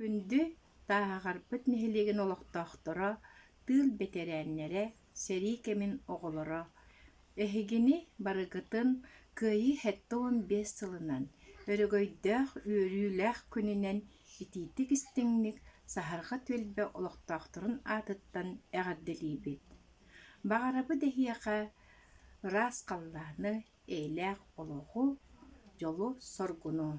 Күндү Тааһаҕарпыт нэһилиэгин олохтоохторо, тыыл бэтэрээннэрэ, сэрии кэмин оҕолоро, Эһигини барыгытын Кыайыы сэттэ уон биэс сылынан, өрөгөйдөөх үөрүүлээх күнүнэн итиитик истиҥник Саһарҕа түөлбэ олохтоохторун аатыттан эҕэрдэлиибит! Баҕарабыт эһиэхэ ыраас халлааны, эйэлээх олоҕу, дьолу-соргуну!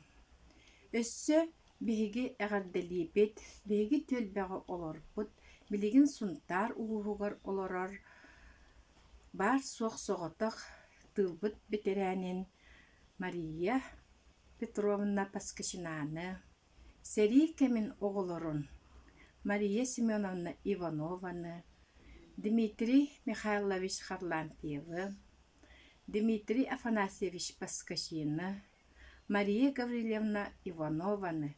Өссө биһиги эҕэрдэлиибит биһиги түөлбэҕэ олорбут билигин Сунтаар улууһугар олорор баар-суох соҕотох тыылбыт бэтэрээнин Мария Петровна Поскачинаны, сэрии кэмин оҕолорун Мария Семеновна Иванованы, Дмитрий Михайлович Харлампьевы, Дмитрий Афанасьевич Поскачины, Мария Гаврильевна Иванованы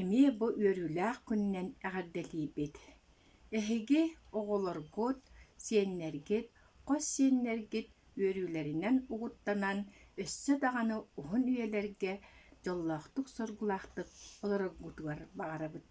эмиэ бу үөрүүлээх күнүнэн эҕэрдэлиибит Эһиги, оҕолоргут, сиэннэргит, хос сиэннэргит үөрүүлэринэн угуттанан, өссө даҕаны уһун үйэлэргэ дьоллоохтук-соргулаахтык олороргутугар баҕарабыт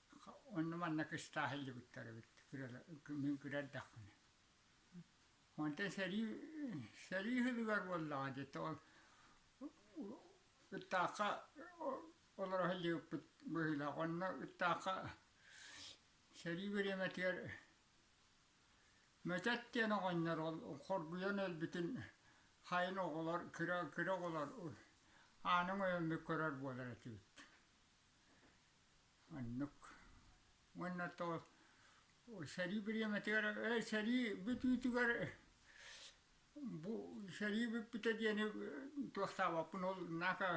Онно манна кыстаах илдьибиттэр эбит мин күрэрдэхпинэ онтон сэрии сэрии иһигэр буоллаҕа диэтэ ол Ытаахха олоро илдьибиппит быһыылаах онно Ытаахха сэрии бириэмэтигэр Мөтөт диэн оҕонньор ол хоргуйан өлбүтүн хайын оҕолор кыра кыра оҕолор аанын ойоммүт көрөр буолар этибит Оннук. Уонна то сэрии бириэмэтигэр ээ сэрии бүтүүтүгэр бу сэрии бүппүтэ диэни туохтаабаппын ол наака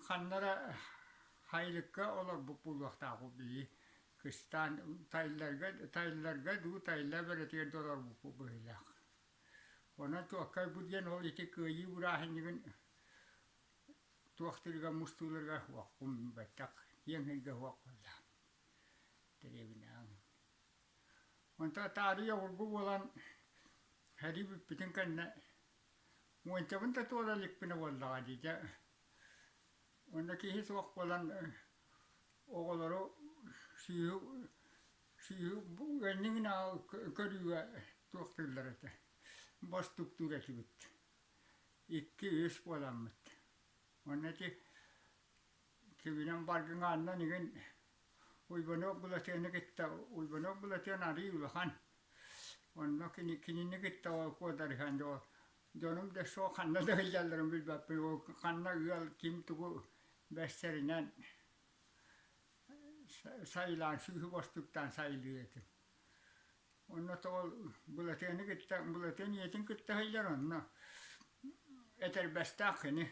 ханна эрэ хайылыкка олорбут буолуохтаахпыт били кыстаан тайылларга тайылларга дуу тайыла бэрэтигэр да олорбуппут быһыылаах. Онон туоххай бу диэн ол ити кыайыы бырааһынньыгын туох тылыгар мустууларга уоххун билбэттэх киэҥ эйгэ суох буоллаҕын дэриэбинэҕин онтон таарыйа обургу буолан сэрии бүппүтүн кэннэ муончабын да туора иликпинэ буоллаҕа дии дьэ онно киһи суох буолан оҕолору сүүһү сүүһү энниҥинээҕи көрүүгэ туох тыллар этэ бостуктуур этибит Икки-үс буоламмыт. Уонна ити кибинэн баргын аанынан игин Уйбаныап Былатыаны кытта Уйбаныап Былатыан арыый улахан. Онно кини кинини кытта ол куодарыһан доо дьонум да суох ханна да ыйдалларын билбэппин ол ханна ыал ким тугу бэстэринэн сайылаан сүүһү бостуктаан сайылыы этим. Уонна тоҕо Былатыаны кытта, Былатыан ийэтин кытта сылдьар онно этэрбэстээх кини.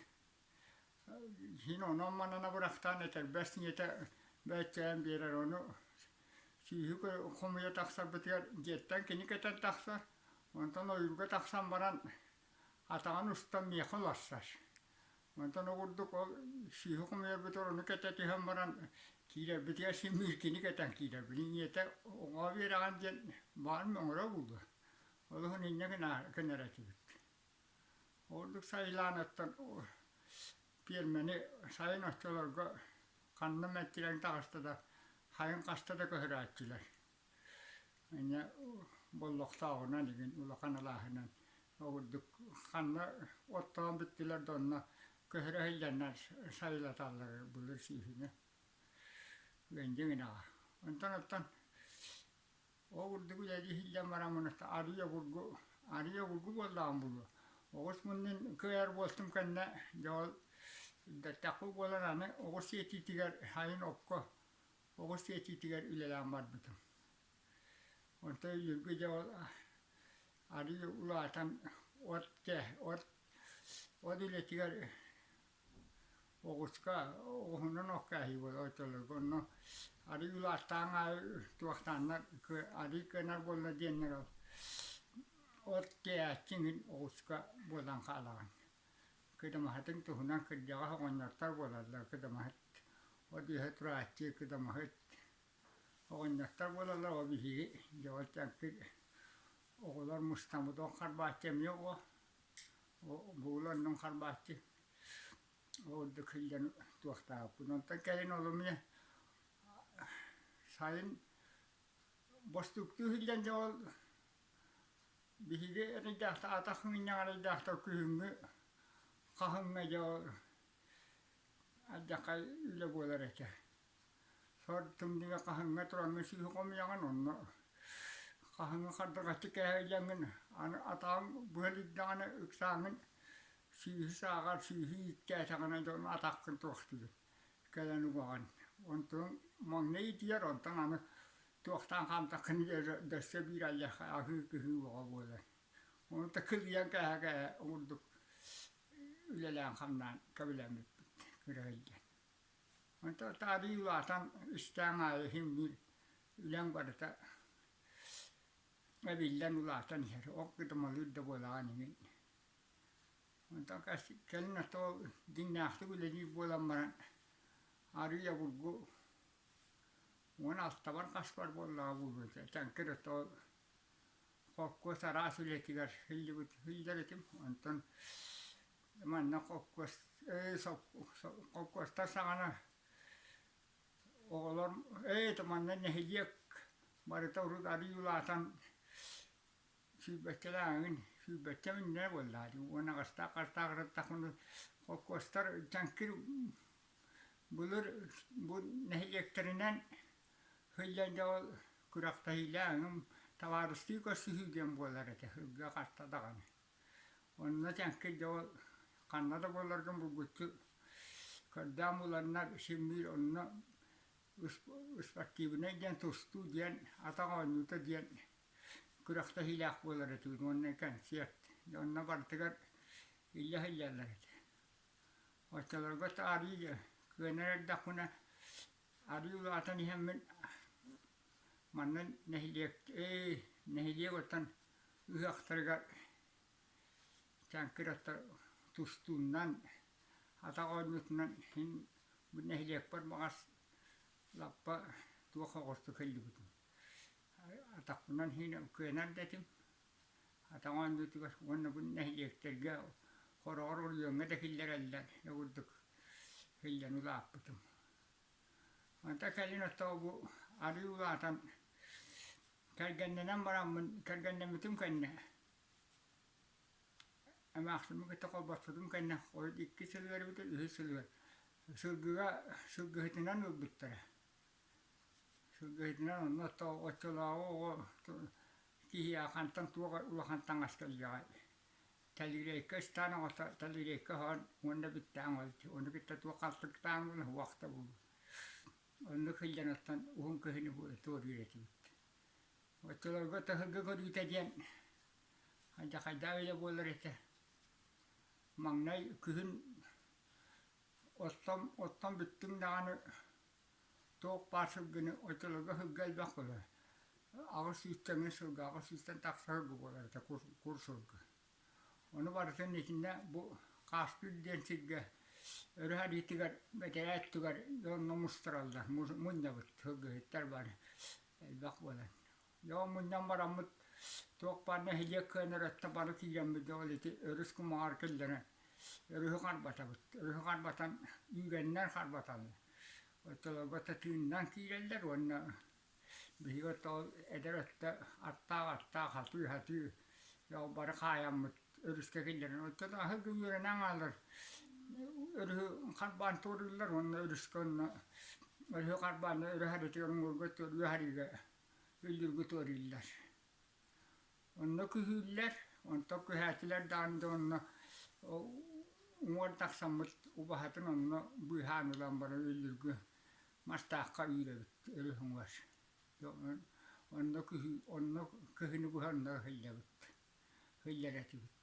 Кини онон-манана бырахтаан этэрбэс ийэтэ бэччээн биэрэр ону сүүһү хомуйа тахсарбытыгар дьиэттэн кини кэтэн тахсар, онтон ойуурга тахсан баран атаҕын устан миэхэ уларсар. Мантан огурдук ол сыыһа хомуйарбытыгар ону кэтэ түһэн баран киирэрбитигэр син мииркини кэтэн киирэрбитин ийэтэ оҥоо биэрэҕин диэн баарын оҥоро булла. Олуһун инньэ гынар этибит. Ордук сайылаан оттон пиэрмэни сайын оччолорго ханна мэттирэн таҕыста да, хайын хаста да көһүрээччилэр. Инньэ буоллахтааҕына илигин улахан алааһынан ордук ханна оттоон бүттүлэр да онно көһөрө сылдьаннар сайылаталлар былыр сүүһүнү үөндэ гынаҕа. Онтон оттон ол курдук үлэлии сылдьан баран муната арыый обургу арыый обургу буоллаҕым буолуо. Оҕус муннун кыайар буолтум кэннэ дьэ ол бэртэххэ буолан аны оҕус сиэтиитигэр сайын окко оҕо сиэчиитигэр үлэлээн барбытым. Онтон Юрга дьэ ол арыы улаатан от от от үлэтигэр оҕуска оҕуһунан оккааһыы буолар оччолорго онно арыы улааттаан аайы туохтааннар арыы кынар буолла диэннэр ол от тиэйээччиҥ иһин оҕуска буолан хаалаҕын кыдамаһытын туһунан кырдьаҕас оҕонньортор буолаллар кыдамаһыт ол иһэ турааччы кыдамаһыт оҕонньортор буолаллар ол биһиги дьэ ол дьэҥкир оҕолор мустаммытын харбааччы эмиэ ол буоланнын харбааччы ол ордук силлэн туохтаахпын онтон кэлин олумне сайын бостууктуу силлэн дьэ ол Биһиги эрэйдээх атах мунньаҕар эрэйдээх күһүҥҥү хаһыҥҥа дьэ ардьахха үлэ буолар этэ. Сорутумнуга хаһыҥҥа тураҥҥа сыыһа хомуйаҕын онно хаһыҥҥа хардыгаччы кэһэйдэҥҥин аны атаҕыҥ быһан ирдэҕинэ ыксааҥҥын сыыһы сааҕар сыыһы ииктээтэҕинэ дьэ ону атаххын туохтугун кэлэн угаҕын онтуҥ маҥнай итийэр онтон аны Туохтан-хантан дөссө биир айахха аһыы-кыһыы боҕо буолар. Ону да кылыйан кэһэ-кэһэ оҥурдук үлэлээн-хамнаан кэбилэммиппит кыра илдьэн. Онто таарыы улаатан үстээн аайы иһиҥҥир үлэҥ барыта эбиллэн улаатан иһэр, ол кытымалыыр да буолаҕын иҥин. Онтон кэлин отоол дьиҥнээхтик үлэлиир буолан баран арыый обургу Уон алтабар хаспар буоллаҕа буолбут Таҥкыр отоо холкуос араас үлэтигэр сылдьыбыт сылдьар этим. Онтон манна холкуос холкуостар саҕана оҕолор ээтэ манна нэһилиэк барыта урут арыы улаатан сүүрбэччэлээҕин сүүрбэччэ миҥнэнэ буоллаҕа дии уон аҕыстаах аҕыстаах ырыттахпына холкуостар Таҥкыр Былыр бу нэһилиэктэринэн сылдьан дьэ ол күрэхтэһиилээх эҥин табаарыстыы көрсүһүү диэн буолар этэ сылга хаста даҕаны. Онно тэҥкэ дьэ ол ханна да буоларгын булгуччу көрдөөн буланнар симниир онно спортивнай диэн тустуу диэн атах оонньуута диэн күрэхтэһиилээх буолар этибит уонна кэнсиэрт онно барытыгар иллэ сылдьаллар этэ Оччолорго таарыы кыанар эрдэхпинэ арыы улаатан иһэммин манна нэһилиэк ээ нэһилиэк оттон ыһыахтарыгар чаҥкыр оттор тустууннан атах оонньуутунан син бу нэһилиэкпэр баҕас лаппа туох оҕустук сылдьыбытым атахпынан иһин кыанар да этим Атаҕын үрдүгэр уонна бу нэһилиэктэргэ хороҕор оройуоҥҥа да киллэрэллэр дьэ курдук сылдьан улааппытым. Онто кэлин оттоо бу арыы улаатан кэргэннэнэн бараммын кэргэннэммитим кэннэ эмээхсиммин кытта холбоспутум кэннэ икки сыл үөрбүтэ үһүс сыл үөр сылгыга сылгыһытынан ылбыттара Сылгыһытынан онно оччолооҕу оҕо киһи аахантан туох улахан таҥас кэлиэҕэй? Тэлириэккэ ыстаан оҕото тэлириэккэ оһоон уонна бүттээҥ олус ону кытта туох халтырыктааҥ буолла уһуох да буолуо оннук сылдьан оттон уһун кыһыны бу туоруйар этибит оччолорго таһырга көрүүтэ диэн хайдахайдаа үлэ буолар этэ маҥнай күһүн оттон оттон бүттүҥ даҕаны Туох баар сылгыны оччолорго сылга элбэххилэ аҕыс сүүсчэҥҥэ сылга аҕыс сүүстэн тахса сылга буолар этэ кур курсурга. Ону барытын итиннэ бу Хааскыыр диэн сиргэ өрө харыйытыгар бэтэрээ өттүгэр дьонно мустараллар мунньабыт сылгыһыттар бары элбэх буолан Дьон мунньан бараммыт туох баар нэһилиэк кыанар өттө бары киирэммит ол ити өрүс кумаҕар киллэрэн өрүһү харбатабыт. Өрүһү харбатан үүрэннэр харбаталлар. Оттолорго тыыннан киирэллэр уонна биһиги оттол эдэр өттө аттаах-аттаах хатыы-хатыы ол бары хаайаммыт өрүскэ киллэрэн оттон аһыгы үөрэнэн хаалар өрүһү харбаан туорууллар уонна өрүскэ онно өрүһү харбаан өрүһ арыытыгар уҥуорга өрүһ арыыга үллүргүт өрүллэр. Онно күһүүллэр, онтон күһээтилэр даан да онно уҥуор тахсаммыт убаһатын онно быыһаан ылан баран үллүргү мастаахха үүрэбит өрүс уҥуор. Онно күһү, онно күһүнү быһа онно ыһыллабыт, ыһыллар этибит.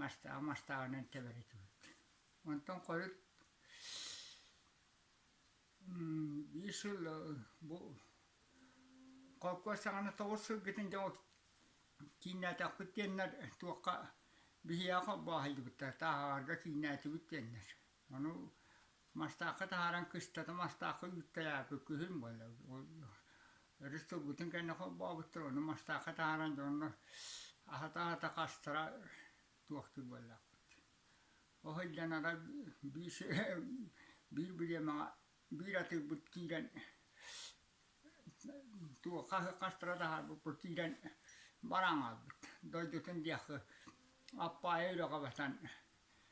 Мастааҕы мастааҕынан тэбэрэ турбут. Онтон хойут биир сыл бу холкуос саҕана тоҕус сылгытын дьэ кииннээтэхпит диэннэр туохха биһиэхэ холбооһуйдубуттар, тааһаҕарга кииннээтибит диэннэр. Ону Мастаахха таһааран кыстатым, мастаахха үүттээххэ күһүн буолла. Өрүс тылбытын кэннэ холбообуттар, ону мастаахха таһааран дьонно аһата-аһата хастара туохтуур буоллаахпыт. Ол сылдьанара биир биир бириэмэҕэ биир атыырбыт киирэн туох хастара таһаарбыппыт киирэн баран хаалбыт. Дойдутун диэххэ Аппаайа үрэҕэ батан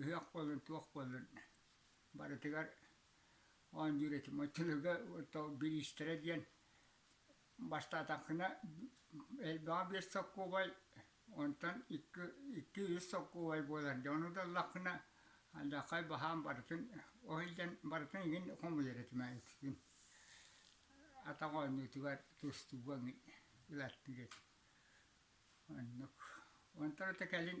ыһыах буоллун, туох буоллун, барытыгар оон дьүрэтим. Тылга бириистэрэ диэн бастаатахына элбэҕэ биэс солкуобай, онтон икки, икки үс солкуобай буолар. Дьэ ону даллаххына алдьархай баһаам барытын ол иһин барытын игин хомуйар этимэ иккин атах оонньуутугар тустууга ылаттыыр этим. Оннук. Онтон ото кэлин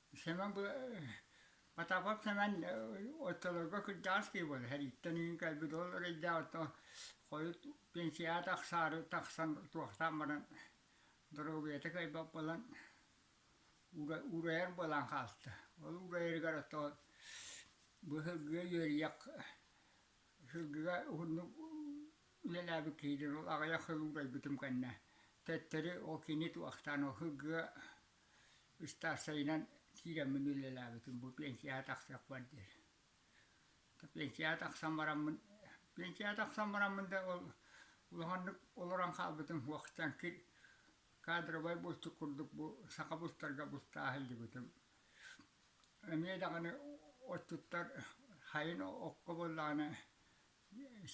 Сэмэн бу Потапов Сэмэн оччолорго кырдьаҕас киһи буолар сэрииттэн үүн кэлбит ол эрэйдээҕиттэн хойут пенсияҕа тахсаары тахсан туохтаан баран доруобуйата кыайбат буолан уурайар буолан хаалта. Ол уурайарыгар оттоо бу сылгыга үөрүйэх сылгыга уһуннук үлэлээбит киһитин ол аҕыйах сыл уурайбытым кэннэ төттөрү ол кини туохтаан ол сылгыга ыстаарсайынан киирэммин үлэлээбитим бу пенсияҕа тахсыахпар диэри. Пенсияҕа тахсан бараммын пенсияҕа тахсан бараммын да ол улаханнык олорон хаалбытым уахтан кир кадровай булчут курдук бу саха бултарга бултаа сылдьыбытым. Эмиэ даҕаны отчуттар хайын окко буоллаҕына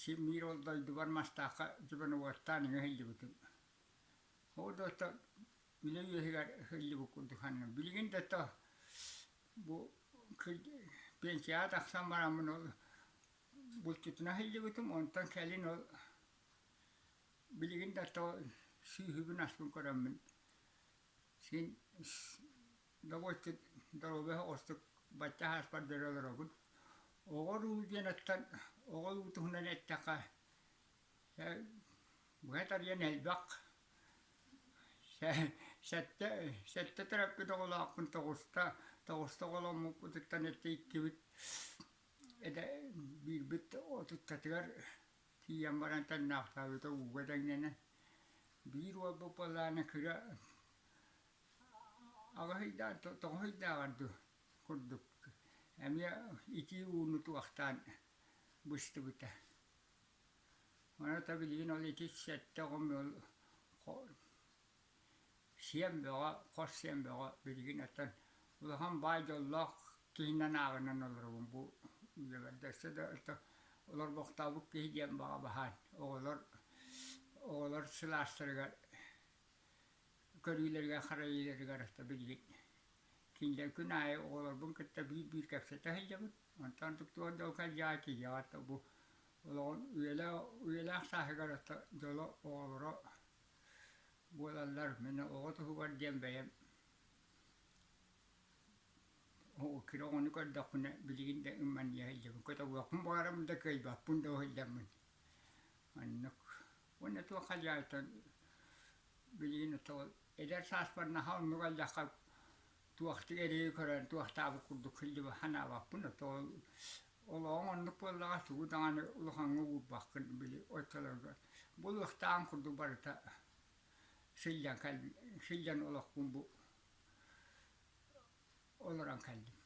син-биир ол дойдубар Мастаахха дьобонугуттаан иҥэ сылдьыбытым. Ол да оттон үлэ үөһүгэр ыһыллыбыт курдук ханным. Билигин да то бу пенсияҕа тахсан бараммын ол булчутун аһыллыбытым, онтон кэлин ол билигин да то сүүһүбүн аспын көрөммүн син довольно доруобуйаһа ордук бачча ааспар бэрэ олоробун. Оҕо уруу диэн оттон оҕо уруу туһунан эттэххэ быһа тарыйан элбэх Сэттэ сэттэ төрөппүт оҕолоохпун тоҕуста тоҕуста оҕоломмуппутуттан эттэ иккибит этэ биирбит отуттатыгар тиийэн баран тэҥнээхтээбитэ ууга дэҥнэнэн биир уолбут буоллаҕына кыра аҕыс ыйдаан тоҕус ыйдааҕар дуу курдук эмиэ итии ууну туохтаан быстыбыта Маната билигин ол итис сэттэ оҕом ыал сиэн бөҕө, хос сиэн бөҕө билигин оттон улахан баай дьоллоох киһинэн ааҕынан олоробун бу дьиэбэрдэ. Өссө да олорбохтообут киһи диэн баҕа баһаам. Оҕолор оҕолор сылаастарыгар көрүүлэригэр-харайыыларыгар ата билигин кинилэр күн аайы оҕолорбун кытта биир-биир кэпсэтэ сылдьабыт. Онтон туттулар дьалкай дьаай киһиэхэ ата бу олоҕун үйэлээх, үйэлээх сааһыгар ата дьоло оҕолоро буолаллар. Мин оҕо туһугар диэн бэйэм киһи оҕону көрдөхпүнэ билигин да ымманыйа сылдьабын. Көтөҕүөхпүн баҕарабын да, кыайбаппын да сылдьаммын. Маннык. Уонна туох хадьаайытан билигин оттоҕо эдэр сааспар наһаа оннук айдахха туохтук эрэйи көрөн туохтаабыт курдук кылдьыбы ханаабаппын ото олоҕуҥ оннук буоллаҕа тугу даҕаны улахаҥҥа уурбаккын били оччолорго булуохтааҕын курдук барыта сылдьан кэлбит сылдьан олохпун бу олорон кэллим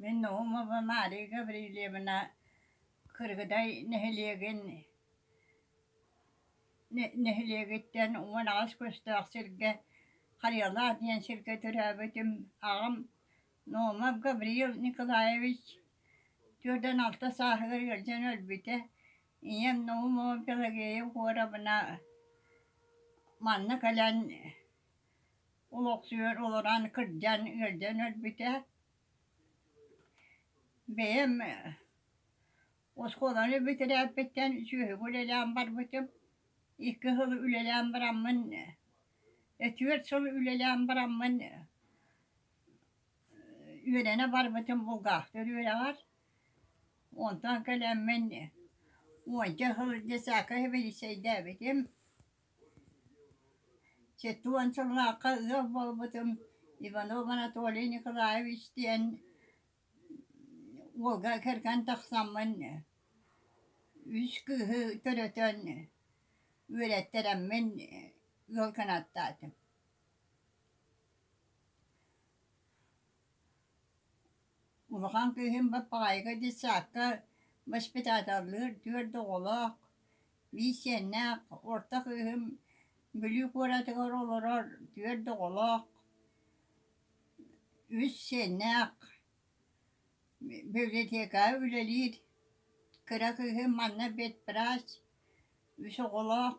Мин Наумовна Мария Гаврильевна Кыргыдай нэһилиэгин нэһилиэгиттэн уман аҕыс көстөөх сиргэ Харыйалаах диэн сиргэ төрөөбүтүм аҕам Наумов Гавриил Николаевич түөртэн алта сааһыгар ыалдьан өлбүтэ ийэм Наумова Пелагея Егоровна манна кэлэн олохсуйан олорон кырдьан ыалдьан өлбүтэ Бэйэм оскуоланы бүтэрээппиттэн сүөһүбү үлэлээн барбытым. Икки сыл үлэлээн бараммын, түөрт сыл үлэлээн бараммын үөрэнэ барбытым булгаахтар үөрэҕэр. Онтон кэлэммин уонча сыл детсадка сэбиэдиссэйдээбитим. Сэттэ уон сыллаахха ыал буолбутум Иванов Анатолий Николаевич диэн уолга кэргэн тахсаммын үс кыыһы төрөтөн үөрэттэрэммин ыал гынаттаатым Улахан кыыһым бат баҕайыга диэт саадка воспитателлыыр түөрт оҕолоох, биир сиэннээх, орто кыыһым Бүлүү куоратыгар олорор түөрт оҕолоох, үс сиэннээх, библиотекаҕа үлэлиир кыра кыыһым манна ветврач, үс оҕолоох.